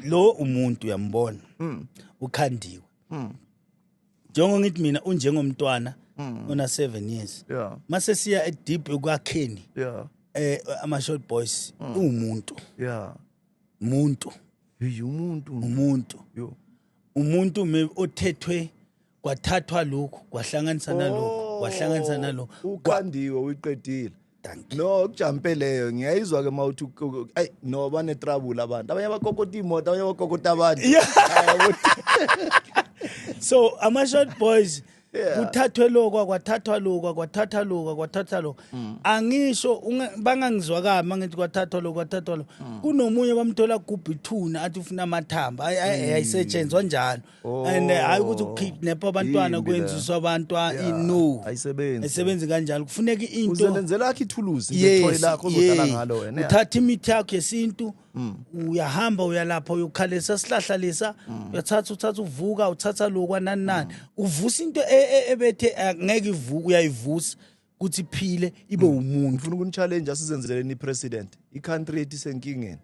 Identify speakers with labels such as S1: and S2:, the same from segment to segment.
S1: lo umuntu uyambona mm. ukhandiwe mm. njengo ngithi mina unjengomntwana mm. ona 7 years yeah. mase siya edeep ekwakheni yeah. eh ama short boys mm. umuntu yeah umuntu umuntu umuntu umuntu othethwe kwathathwa lokhu kwahlanganisa nalokhu kwahlanganisa nalokhu Kwa- ukhandiwe
S2: uyiqedile Thank you. no kujampe leyo ngiyayizwa ke uma uthi u- ayi no banetrouble abantu abanye abakokota imoto abanye abakokota abantu Yeah. Hayi, ukuthi-
S1: so ama short boys Yeah. kuthathwe lokwa kwathathwa lokwa kwathatha lokwa kwathatha lokwa Mm. angisho unga- bangangizwa kabi mangithi kwathathwa lokwa kwathathwa lokwa Mm. kunomunye bamthola gubhithuna athi ufuna amathamba Ay- ay- ayisetshenzwa njalo Oh, and eh, hayi ukuthi ukidnap abantwana Yimbi kwenza le. uswa abantwana Yeah, i- no ayisebenzi. ayisebenzi kanjalo kufuneka into Uzelenzela akhe ithuluzi
S2: nje ethole lakho ozodlala ngalo wena. yeah. uthatha imithi yakho
S1: yesintu uyahamba uyalapha uyokhalisa sihlahla lesa uyathatha uthatha uvuka uthatha lokwa nani nani uvusa into e- e- ebethe eh, ngeke ivuka uyayivusa kuthi phile ibe hmm. umuntu ngifuna ukunichallenge
S2: asizenzeleni ipresident icountry yethu isenkingeni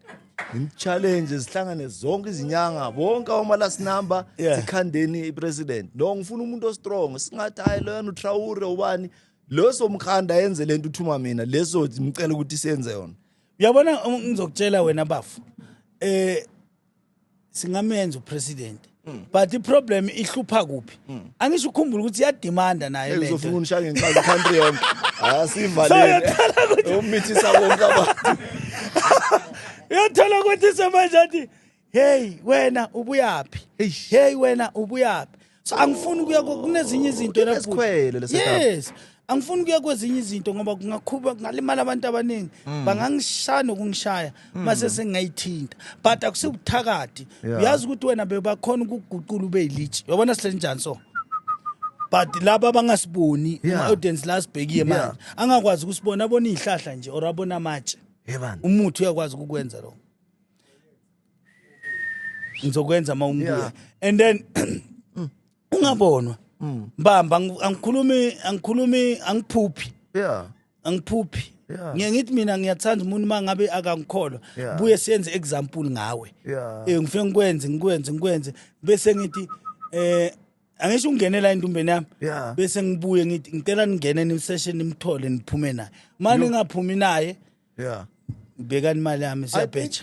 S2: ngimchallenge zihlangane zonke izinyanga bonke oma last number yeah. sikhandeni ipresident no ngifuna umuntu ostrong singathi hayi loyana utraure ubani leso mkhanda yenze lento uthuma mina leso ngicela ukuthi senze yona uyabona
S1: ngizokutshela wena bafu eh singamenza upresident hmm. but iproblem ihlupha kuphi hmm. angisho ukhumbula ukuthi iyadimanda naye lento uzofuna unishaya ngenkazi
S2: country yonke asivalele umithisa konke abantu
S1: uyathola ukuthi semanje athi hey wena ubuyaphi hey wena ubuyaphi so angifuni ukuya ku- kunezinye izinto la bhuti. Inesikhwele le setup.
S2: yes
S1: angifuni ukuya kwezinye izinto ngoba kungakhuba kungalimala abantu abaningi Mm. bangangishaya nokungishaya mase sengayithinta but akusibuthakathi Yeah. uyazi ukuthi wena bebakhona ukuguqula ube yilitshi yabona sihleli njani so but laba abangasiboni Yeah. ama-audience la sibhekiye Yeah. manje angakwazi ukusibona abona iy'hlahla nje or abona amatshe Yebani. umuthi uyakwazi ukukwenza lokho ngizokwenza uma ungibuya and then ungabonwa mm. mbamba angikhulumi angikhulumi angiphuphi yeah angiphuphi yeah. ngiye ngithi mina ngiyathanda umuntu uma ngabe akangikholwa yeah. buye siyenze example ngawe yeah. eh ngifike ngikwenze ngikwenze ngikwenze bese ngithi eh angisho ungenela endumbeni yami yeah. bese ngibuye ngithi ngicela ningene nisession nimthole niphume naye manje ngaphumi naye yeah ngibekani imali yami siyabheja